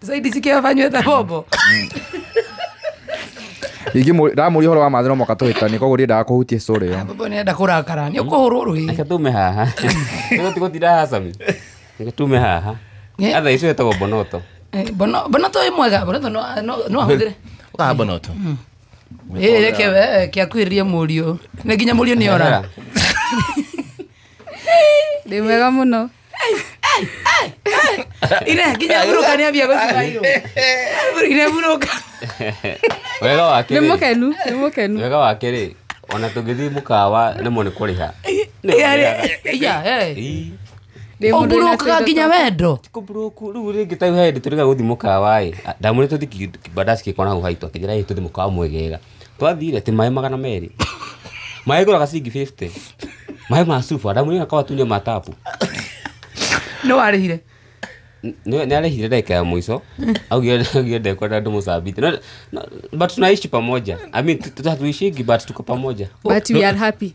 Sasa hili sikia afanywe thabobo. Ingi ramuri horo wa mathira moka tuhitani koguo ndiendaga kũhutia story ĩyo. Baba nenda kũrakara. Nĩ ũkũhũrwo rũĩ. reke tume haha Nĩguo tiga ũtira haha Sami. reke tume haha Nĩ- atha icio ĩtagwo mbonoto Eh, Bono bono to imwega, bono to no no no ahũthĩre. Ũkaha mbonoto. Eh, reke we kia kwĩrĩrie mũriũ. Nĩ nginya mũriũ nĩ ora. Ndĩ mwega mũno. ire nginya burũka nĩ ambia gũcibairwo ire burũka wega wake nĩ rĩ- mũkenu nĩ mũkenu wega wake rĩ ona tũngĩthiĩ mũkawa rĩmwe nĩ kũrĩha Ndĩ mũndũ wĩna ũburũkaga tũindo nginya twa- wendo kũburoku rĩu rĩngĩ ta he hĩndĩ tũrĩga gũthiĩ mũkawa ĩ ndamwĩre tũthiĩ kibandasi kĩkona hau haitũ akĩnjĩra ĩ tũthiĩ mũkawa mwegega twathire ati maĩ magana merĩ maĩ ngũraga ciringi 50 maĩ ma cuba ndamwĩra kwa atumia ma tapu nĩ warĩhire nä arehire ndagä ya mwico augire ndekwenda ndå må cambite No- no- but tunaishi pamoja I mean, tu- tu- hatuishingi but tuko pamoja but we are happy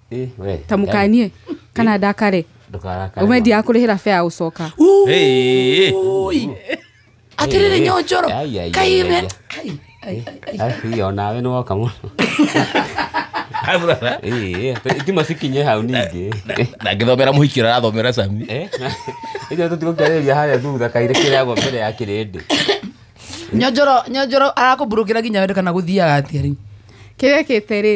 Eh, we. ta mũkanie kana ndakare Ndũkarakare. ũmendia akũrĩhĩra bea ũcoka Hey. atiriri nyonjoro Ai, ai, ai, kaime ai. Ai, ai, ai, ai. Ai, iyo, nawe nĩ woka mũno Ai, brother. Eh, eh, tima cikinye hau ningĩ na ngĩthomera mũhiki ũrĩa arathomera sami Eh, icio tũtigũkĩarĩria harĩa thutha kairĩ kĩrĩagwo mbere ya kĩrĩndĩ nyonjoro nyonjoro arakũmburũkĩra nginya wende kana gũthiaga atĩa rĩu kĩrekĩte rĩ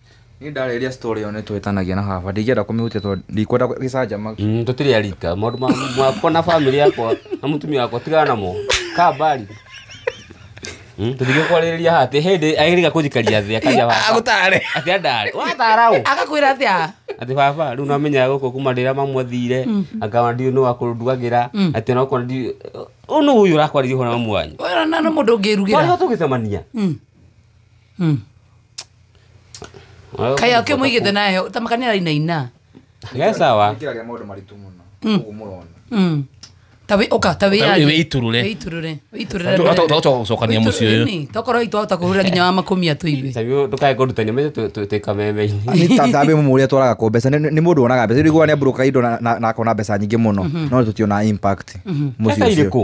Niĩ ndarĩrĩria story ĩyo nĩ twĩtanagia na baba ndingĩenda kũmĩhutia tondũ ndikwenda gĩcanjama Mm, tũtirĩ arika maũndũ ma- makwa na bamĩrĩ yakwa na mũtumia wakwa tigana namo ka mbari Mm, tũtige kwarĩrĩria haha atĩ hĩndĩ agĩrĩga kũnjikaria thĩ akaria baba agũtare atĩ andare watara ũ agakwĩra atĩa atĩ baba rĩu namenya gũkũ kuma rĩrĩa mamwathire akawa ndiũ nĩ wakũndugagĩra atĩ onakorwo ndi ũ nĩ ũyũ ũrakwaririe hona mamu wanyu ũyũ na nĩ mũndũ ũngĩrugĩra twarĩho tũgĩcemania Mm. Mm. kaĩ akĩ mũigĩte nayo ta makanĩra inaina Ge sawa. Kila rĩa maũndũ maritũ mũno. Ũguo mũrona. Mm. ta wĩ ũka ta wĩ Ta wĩ- wĩitũrũre. wĩitũrũre wĩitũrũre Tũ- tũ- tũ- tũ- gũcokania mũciĩ ũyũ. Nĩ, tokorwo itwahota kũhũrĩra nginya wa makũmia tũigue Sabi ndukae kũrutania mĩtĩ tũ- tũ- twĩ kameme-inĩ. Nĩ ta thabĩ mũmũ ũrĩa twaraga kũ mbeca nĩ nĩ mũndũ wonaga mbeca rĩu nĩ mbũrũka indo na- na na akona mbeca nyingĩ mũno no tũtiona impact mũciĩ Mbeca ũcio. irĩkũ?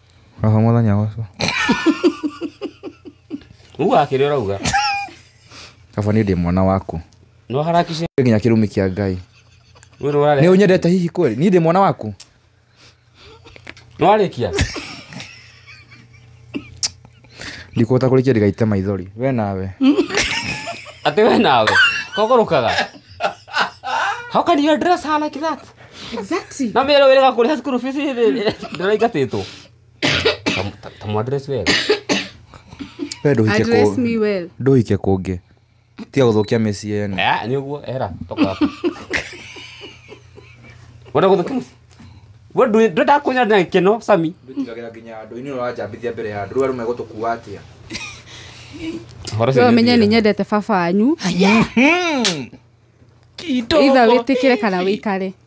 Oho mũthenya ũcio. Uga akĩrĩ ũrauga. Kaba nĩ ndĩ mwana waku. No harakishe. Nginya kĩrumi kĩa Ngai. Wĩrũ warĩa. Nĩ ũnyendete hihi kweli? Niĩ ndĩ mwana waku. Nĩ warĩkia? ndikũhota kũrĩkia ndĩgaite maithori we nawe Ati we nawe. Kogorukaga. How can you dress her like that? Exactly. Na mero wega kuri school fees ndira igatito. Tamu address wega. we ndũhike Address kũ- me well. ndũhike kũngĩ tiga gå thå kia mä ciä ene Eh, ni uguo era toka hapo wenda guthukia muci we ndwenda kunya na kino sami ndåtigagä ra nginya andå inä ranjambithia mbere ya andå rä u andå megå tå kua atä a Horo cio we menye nĩ nĩ nyendete baba wanyu itha wĩtĩkĩre kana wĩikare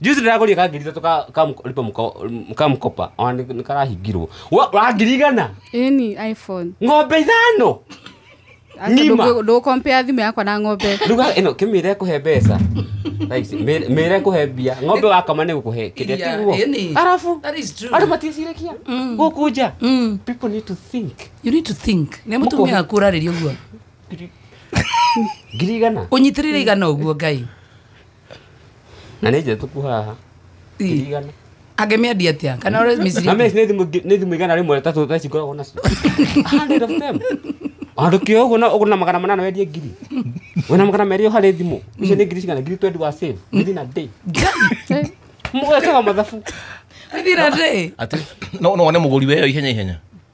Juzi ndĩragũrire ka ngiri ithatũ ka- ka mko- lipa mko- m- ka mkopa ona nĩ- nĩ karahingirwo Wa- wa ngiri igana ĩni iphone ng'ombe ithano Ng'ima. ndũkompea thimũ yakwa na ng'ombe ruga ĩno kĩmĩra ĩkũhe mbeca Thaa ici, mĩ- mĩra ĩkũhe mbia ng'ombe wakama nĩ gũkũhe kĩrĩa Yeah, tiguo any. arabu That is true. andũ maticirĩkia gũkũ nja Mm. people need to think You need to think. Nĩ mũtumia waku ũrarĩria ũguo. ngiri igana Ũnyitĩrĩre igana ũguo Ngai. na nä njä tuku haha Tirigana. angĩmĩendia atĩa kana ũrĩa mĩciri na meci nä thimå igana rä mwe tatå taici ngoragwo nacio andå kä å guo na å gå na magana manana wendie ngiri wä na magana merä å harä thimå icio nä ngiri cigana ngiri twendi wa save ngiri na ndä må ekaga mathabu Thira ndĩ. Ati, no no one mũgũri weyo ihenya ihenya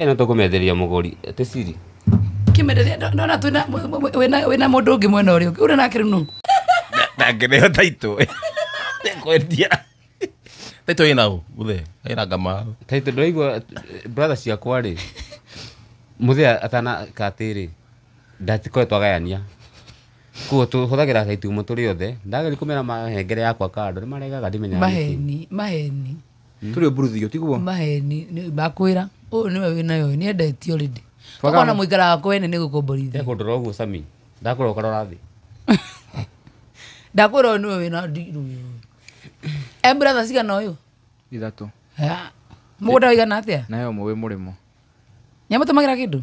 ĩno tũkũmenderia mũgũri ĩtĩ siri kimereria ndona twina wina wina mundu ungi mwena uri ungi uri nake rinu ndangĩrĩo taitũ kwendia taitũ ĩna ũ gũthe ĩna ngama taitũ ndũraigua brother ciakwa rĩ mũthĩa atana katĩrĩ ndatikoretwo agayania kuo tũhũthagĩra taitũ imwe tũrĩ othe ndageri kũmera mahengere yakwa kando nĩ maregaga ndimenyaga nĩkĩ. maheni maheni turi mburuthio tiguo maheni ndakwira uyu niwe winayo ni endetio rindi Twagana- twakona muikara wako wene ni gukomborithia eko ndora uguo sami ndakora ukarora thi ndakwira uyu niwe wina ndiru uyu embratha cigana uyu ithatu mugunda wigana atia nayo mwe wi murimo nyamutumagira kindu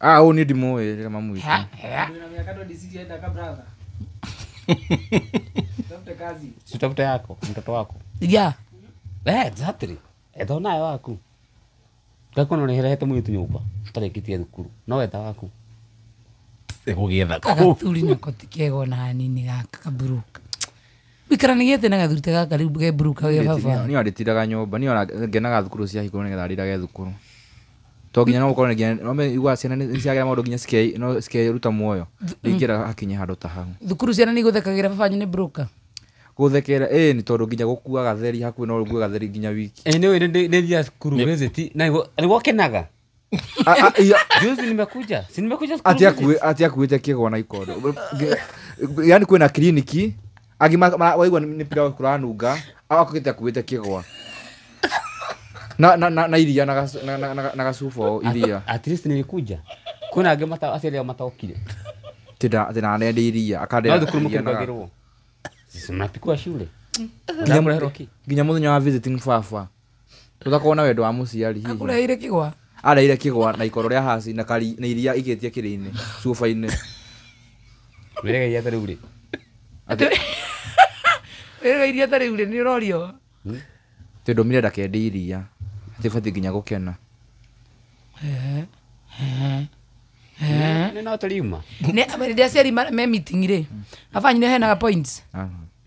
ah ũyũ nĩ ndimũĩ rĩrĩa mamwĩta Ha, ha. Ndio na miaka 26 yaenda ka brother. Tafuta kazi. sitafute yako mtoto wako ya Eh, exactly etho nayo waku ngakona nĩherehete mũirĩtu nyũmba tarĩkĩtie thukuru no weta waku ĩgũgĩetha kũ agathuri nako ti kega ona hanini gaka kaburuka wikara nä gä na gathuri ta gaka rä u geburuka ge baba niä andätiraga nyå mba niä ngenaga thukuru ciahingå nä getha arä rage thukuru to nginya no gũkorwo nginya no meigua ciana nĩ nĩ ciagera maũndũ nginya cike- no cikeruta muoyo ingĩra hakinye handũ ta hau thukuru ciana nĩ igũthekagĩra baba wanyu nĩ broker gũthekera ĩ nĩ tondũ nginya gũkua gatheri hakuhĩ no ũgue gatheri nginya wiki Eh, nĩ nĩ nĩ thia cukuru visit na nĩguo- nĩguo kenaga A- a- iya, juzi nimekuja si nimekuja cukuru ati visit. akuĩ- ati akuĩte kĩgwa na ikondo yani kwĩna kiriniki Angĩ ma- ma- waigua nĩ pilau kũranunga, awa kũgĩte akuĩte kĩgwa. Na, na, na, na iria na, gacu- na, na, na, na gacuba o iria. At least nilikuja. Kuna angĩ mata aciari ao mataokire. Tĩna tĩna nende iria No akandera. thukuru iria na- mkirugagirwo. Sisi mnapikwa shule. Nginya Mnakuleherwa ki. Nginya mũthenya wa visiting baba. tũtakorwo na wendo wa mũciari hihi akũreheire kĩgwa areire kĩgwa na ikoro rĩa haci na kari na iria igĩtie kĩrĩ-inĩ cuba-inĩ wĩregeria atĩ rĩu rĩ wĩrĩga iria ta rĩu rĩ nĩ ũrorio tĩ ndũmire ndakendi iria atĩ batiĩ nginya gũkena nĩ no tũriuma Nĩ- hĩndĩ ĩrĩa aciari ma- me meeting rĩ abanyire henaga points Ah.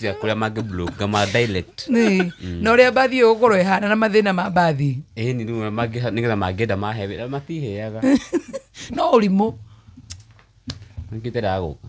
ya kuria mangi blue ngama direct Nĩ. na ũrĩa mbathi ĩyo gũkorwo ĩhana na mathĩna ma mbathi eh ni rĩmwe mangi nigetha mangienda mahe wĩra matiheaga no ũrimũ mangitera gũka